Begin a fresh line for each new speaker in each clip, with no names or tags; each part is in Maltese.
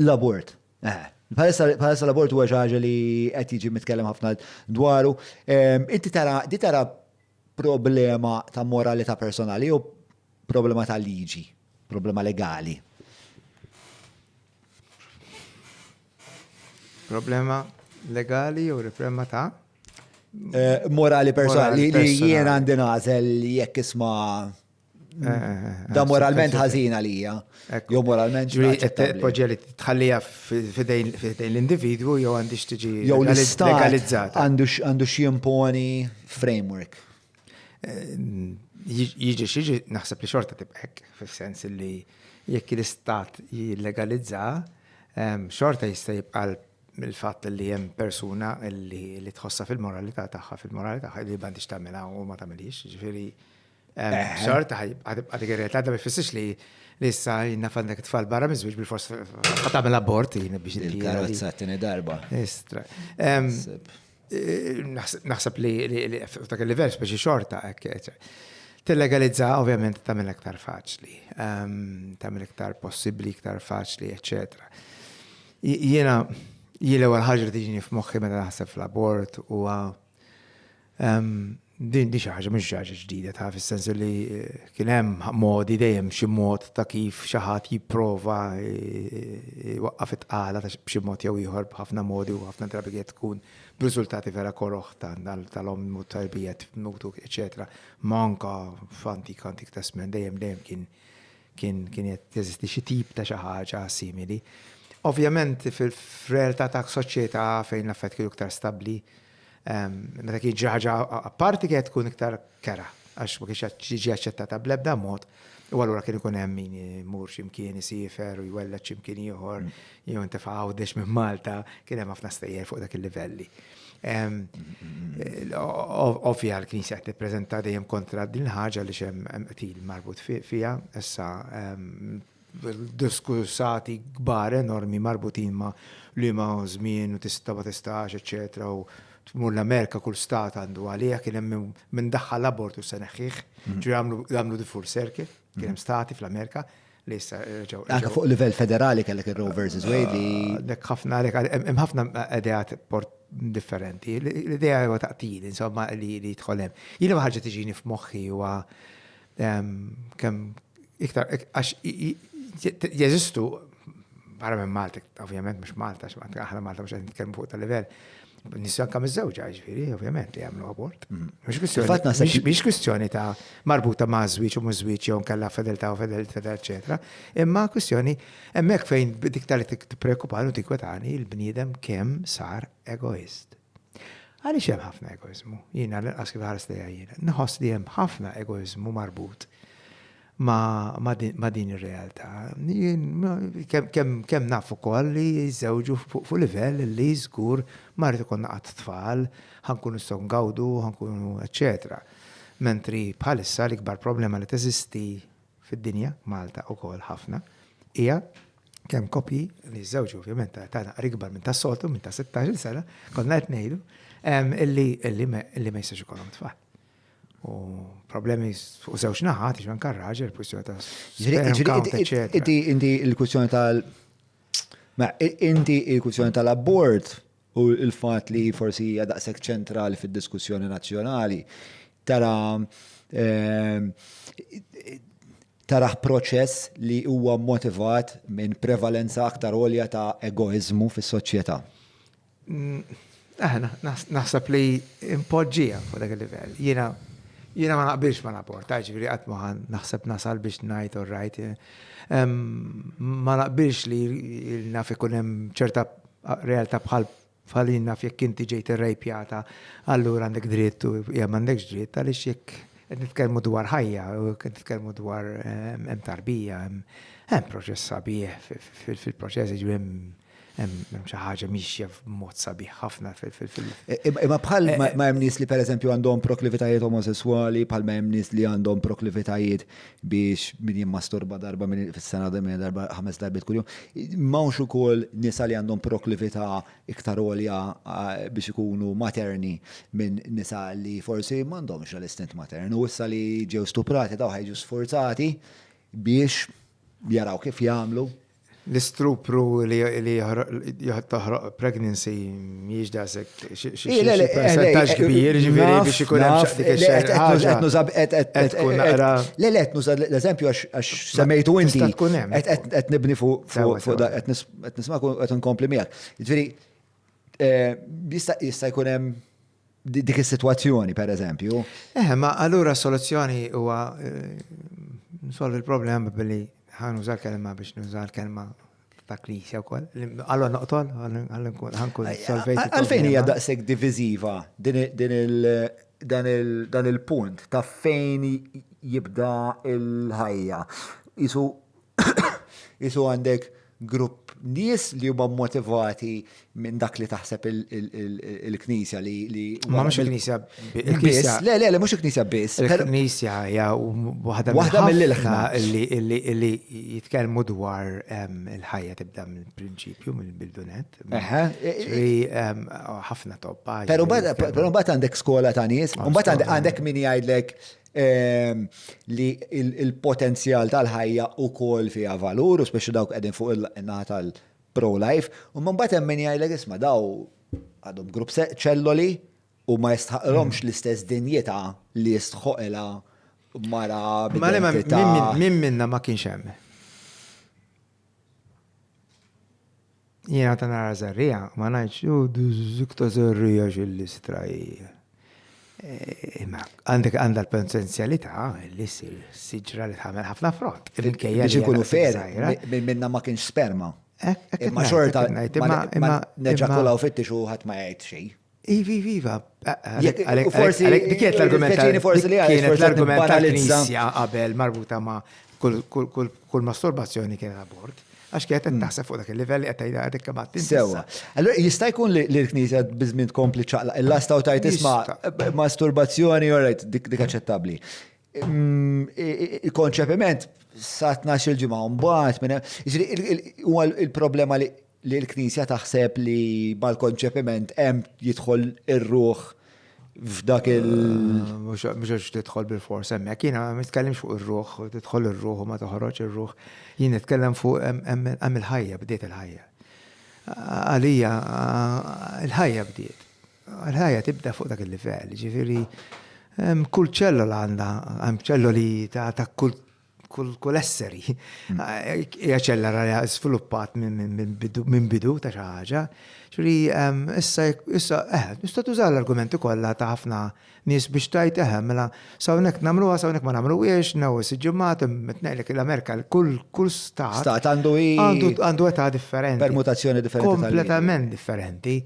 L-abort. Eh, Bħalissa bħalissa l-abort huwa xi ħaġa li qed jiġi mitkellem ħafna dwaru. Em, Inti tara di tara problema ta' moralità personali jew problema ta' liġi, problema legali.
Problema legali jew riprema ta'
Eh, Morali personali Morali li li jien personali. għandi nażel jekk isma' Eh, eh, eh, da moralment ħażina lija. Jo moralment Poġġa li
tħallija fidejn l-individwu jew għandix tiġi legalizzata.
Għandu ximponi framework.
Jiġi xieġi naħseb li xorta tibqek, fil-sens li jekk l-istat jillegalizza, xorta jista' jibqa' il-fatt li hemm persuna li tħossa fil-moralità tagħha, fil-moralità tagħha li m'għandix tagħmilha u ma tagħmilhiex, ġifieri Xorta ħajibqa' dik ir-realtà ma jfissirx li li issa jina fannek tfal barra miżwieġ bil-fors għatamil abort jina biex il-karozza t-tini
darba. Istra. Eh,
naħseb li dak il-level speċi xorta, t-legalizza ovvjament tamil iktar faċli, tamil iktar possibli, iktar faċli, eccetera. Jena, jile għal ħagġa li tiġini f'moħħi meta naħseb fl-abort u Din di xi ħaġa mhux xi ħaġa ġdida ta' fis-sens li eh, kien hemm modi dejjem xi mod ta' kif xi ħadd jipprova eh, waqqaf it-tqala ta' xi mod jew ieħor b'ħafna modi u ħafna drabi qed tkun b'riżultati vera koroħ tal-om u tarbijet mutu eċetera. Manka f'antik antik tasmen dejjem dejjem kien Kien qed jeżisti xi tip ta' xi ħaġa simili. Ovvjament fir-realtà ta' soċjetà fejn l-affarijiet kienu iktar stabbli, meta kien jiġri ħaġa apparti kienet tkun iktar kera għax ma kienx jiġi aċċettata bl-ebda mod u allura kien ikun hemm min imur xi mkien isifer u jwelled xi mkien ieħor jew intefa' Għawdex minn Malta, kien hemm ħafna stejjer fuq dak il-livelli. Ovvja l-Knisja qed tippreżenta dejjem kontra din ħaġa li xem qtil marbut fija, issa diskussati kbar enormi marbutin ma li ma żmien u tista' ma tistax, eċetera, u tmur l-Amerika kull stat għandu għalija kien hemm minn daħħal abortu se neħħih, ġri għamlu di full circle, kien hemm stati fl-Amerika li issa reġgħu. Anke fuq livell federali
kellek ir-Rovers iżwejdi. li. Ah, dek ħafna għalek
hemm ħafna ideat port differenti. L-idea huwa taqtil, insomma, li jidħol hemm. Jiena ma ħaġa tiġini f'moħħi huwa ehm, kemm iktar għax jeżistu barra minn Malta, ovvjament mhux Malta, x'Malta aħna Malta mhux qed nitkellmu fuq tal-livell. Nissu anka miż-żewġa, ġifieri, ovvjament li jagħmlu abort. Mhm. Biex kwistjoni ta' marbuta ma' żwieġ u mhux żwieġ jew nkella fedeltà u fedeltà, eċetera. Imma kwistjoni hemmhekk fejn dik tal tippreokkupani u tinkwetani il-bniedem kemm sar egoist. Għaliex hemm ħafna egoizmu? Jiena l-inqas kif ħares lejha jiena. Nħoss li hemm ħafna egoizmu marbut ma' din ir-realtà. Jien kemm naf ukoll li jiżżewġu fuq livell li żgur ma rrid ikollna qatt tfal, ħa nkunu nistgħu ngawdu, ħa nkunu eċċetera. Mentri bħalissa l-ikbar problema li teżisti fid-dinja, Malta ukoll ħafna, hija kemm koppji li jiżżewġu ovvjament ta' età naqra ikbar minn tas-soltu, minn ta' sittax-il sena, konna qed ngħidu, illi ma jistax ikollhom tfal. U problemi fuq żewġ naħat, iġman kan raġel, kwistjoni ta' Inti inti
il-kwistjoni tal- Ma inti il-kwistjoni tal-abort u il-fat li forsi hija daqshekk ċentrali fid-diskussjoni nazzjonali tara ehm, taraħ proċess li huwa motivat minn prevalenza aktar olja ta' egoizmu fis-soċjetà. Aħna,
naħseb li impoġġija fuq dak il-livell. Jiena jiena ma naqbilx ma naporta, ġifieri qatt ma naħseb nasal biex ngħid u rajt. Ma naqbilx li naf ikun hemm ċerta realtà bħal bħal naf jekk inti ġejt irrejpjata, allura għandek dritt u jew m'għandekx dritt għaliex jekk qed nitkellmu dwar ħajja u qed nitkellmu dwar hemm tarbija, hemm proċess sabiħ fil-proċess jiġri hemm hemm xi ħaġa mixja b'mod sabiħ ħafna fil-fil. Imma
bħal eh, eh. ma hemm nies li pereżempju għandhom proklivitajiet omosessuali, bħal ma hemm nies li għandhom proklivitajiet biex min jimmasturba darba minn fis-sena minn darba ħames darbit kuljum. M'hawnx ukoll nisa li għandhom proklività iktar għolja eh, biex ikunu materni minn nisa li forsi m'għandhomx l-istint matern u issa li ġew stuprati daw ħajġu sforzati biex jaraw kif jagħmlu L-istupru
li taħraq pregnancy miex daqshekk xi percentaġġ
kbir,
ġifieri biex ikun hemm xi dik
Le le qed nuża l-eżempju għax semmejtu inti. Qed nibni fuq qed nisma' qed inkompli miegħek. Jiġifieri Eh, jista' jkun hemm dik is-sitwazzjoni, per eżempju. Eh, ma allura
soluzzjoni huwa eh, nsolvi l-problema billi ħan użal kelma biex nużal kelma ta' knisja wkoll. Allora noqtol, ħankun solvejt. Għalfejn hija daqshekk
diviżiva din il dan il-punt ta' fejn jibda il-ħajja. Isu Qisu għandek grupp nies li huma motivati minn dak li taħseb il-knisja li. Ma mhux il-knisja.
Il-knisja. Le,
le, le, mhux il-knisja biss. Il-knisja hija
waħda waħda mill-ilħna li jitkellmu dwar il-ħajja tibda mill-prinċipju, mill-bildunet. Ħafna toppa. Però mbagħad
għandek skola ta' nies, u mbagħad għandek min jgħidlek li il-potenzjal tal-ħajja ukoll fiha valur, u speċi dawk qegħdin fuq il-naħa tal-pro-life, u mbagħad hemm min jgħidlek isma' daw għadhom grupp ċelloli u ma jistħaqilhomx l-istess dinjità li jistħoqilha mara b'identità. Mela, min minna ma
kienx hemm? Jiena ta' nara żerrija, ma ngħidx, u dik ta' żerrija x'illistra hi. Eh, Imma għandek għandha l-potenzjalità li ssir siġra li tħamel ħafna frott. Il-kejja Biex ikunu
fer, minn minna ma kienx sperma. Imma xorta, imma neġakulaw fittix u ħadd ma jgħid xejn. Ivi, ivi, iva.
Forsi dikjet l-argument. Forsi li kienet l-argument tal-Knisja qabel marbuta ma' kull masturbazzjoni kienet abort. Għax kienet qed taħseb fuq dak il-livell li qed tgħidha dik kemm għad Sewa. Allura
jista' jkun li l-Knisja biżmien tkompli ċaqlaq il-lasta u tajt isma' masturbazzjoni orajt dik aċċettabbli. Il-konċepiment sa 12 il-ġimgħa mbagħad minn huwa il-problema li li l-Knisja taħseb li mal-konċepiment hemm jidħol ir-ruħ f'dak il-
Mhux għax tidħol bil-fors hemmhekk, jiena ma nitkellimx fuq ir-ruħ, tidħol ir-ruħ u ma toħroġx ir-ruħ. Jien nitkellem fuq hemm il-ħajja, bdiet il-ħajja. Għalija l-ħajja bdiet. Il-ħajja tibda fuq dak il-livell, jiġifieri hemm kull ċellola għandha, hemm ċelloli ta' kull kull esseri. Mm. Eh, hija ċella rara sviluppat minn bidu ta' xi ħaġa. Ġri ehm, issa issa eh, tista' tuża l-argumenti kollha ta' ħafna nies biex tajt eħem, eh, mela sawnek nagħmluha sawnek ma nagħmluhiex, new siġġimat tnejlek l-Amerika kull kull stat. Stat għandu għandu età differenti. Permutazzjoni differenti.
Kompletament differenti.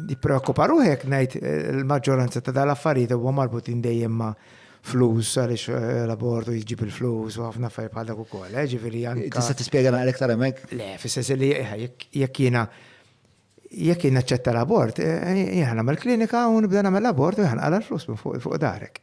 Nippreokkupa ruħi jekk ngħid il-maġġoranza ta' dal-affarijiet huwa marbutin dejjem ma' flus għaliex eh, l-abortu jġib il-flus u ħafna affarijiet bħal dak ukoll, eh, ġifieri anke. Tista' tispjega naqra iktar hemmhekk?
Le, fis-sens li eh,
jekk jiena jekk jien naċċetta l-abort, jien nagħmel klinika u nibda nagħmel l-abort u jħan għal flus fuq darek.